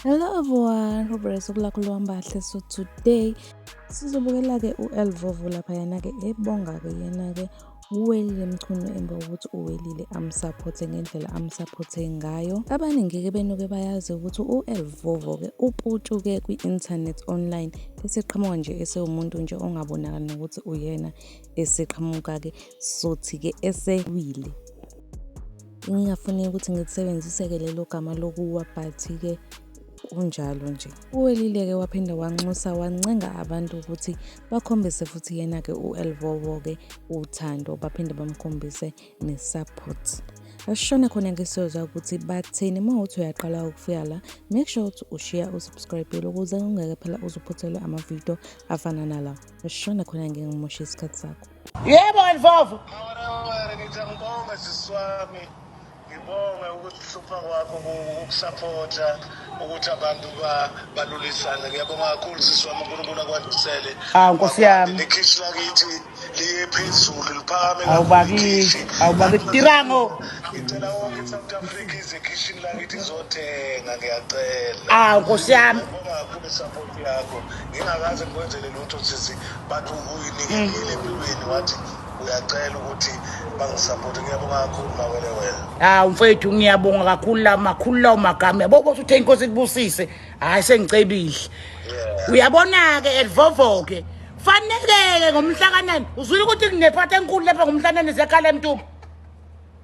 Hello everyone, hope you're so glad to be So today, sizobukela ke uElvovo lapha yena ke ebonga ke yena ke uwelile mchunu emva kokuthi uwelile amsapothe ngendlela amsapothe ngayo abaningi ke benuke bayazi ukuthi uElvovo ke uputshuke kwi-internet online eseqhamuka nje esewumuntu nje ongabonakali nokuthi uyena eseqhamuka-ke sothi-ke esewile ngingafuni ukuthi ngilisebenzise-ke lelo gama lokuwa but-ke kunjalo nje uwelile-ke waphinda wanxusa wancenga abantu ukuthi bakhombise futhi yena-ke u-elvovo-ke uthando baphinde bamkhombise ne-support asishone khona-ke siyozwa ukuthi bathini uma uthi uyaqala ukufika la make sure ukuthi ushiya usubscribile ukuze ungeke phela uzuphuthelwe amavidiyo afana nalawa Shona khona ngeke ngimoshe isikhathi sakho. Yebo Ndlovu. Ngithi ngibonge sisi wami. Ngibonge ukuthi uhlupha kwakho ukusaphotha ukuthi abantu balulisane. Ngiyabonga kakhulu sisi wami uNkulunkulu akwandisele. Hawu Nkosi yami. Nekhishi lakithi liye phezulu liphakame kakhulu. Awubakisi, awubakisi tirango. Ngicela wonke iSouth Africa ize ekhishini lakithi izothenga ngiyacela. Hawu Nkosi yami. Ngibonga kakhulu support yakho. ngingakaze ngikwenzele lutho sisi but uyinikelile empilweni wathi uyacela ukuthi bangisapothe ngiyabonga kakhulu mawele wena hawu ah, mfethu ngiyabonga kakhulu la makhulu lawo magama yabo kodwa uthe inkosi ikubusise hhayi sengicebile uyabona-ke elivovoke faneleke ngomhlakanani uzwile ukuthi kunephatha enkulu lapha ngomhlanane ziyakhala emtuba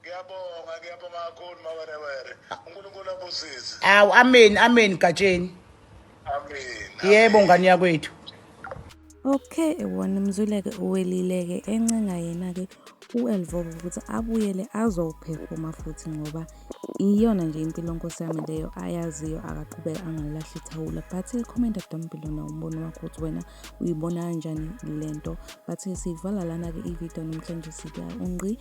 Ngiyabonga ngiyabonga kakhulu mawerewere. UNkulunkulu abusise. Awu amen amen Gatsheni. Amen. Yebo ngane yakwethu. Okay wona mzuleke uwelileke encenga yena ke uElvovo ukuthi abuyele azowuphefoma futhi ngoba iyona nje impilo nkosi yami leyo ayaziyo akaqhubeke angalilahli ithawula but comment down below na umbono wakho ukuthi wena uyibona kanjani lento but siyivala lana-ke ividiyo namhlanje sika unqi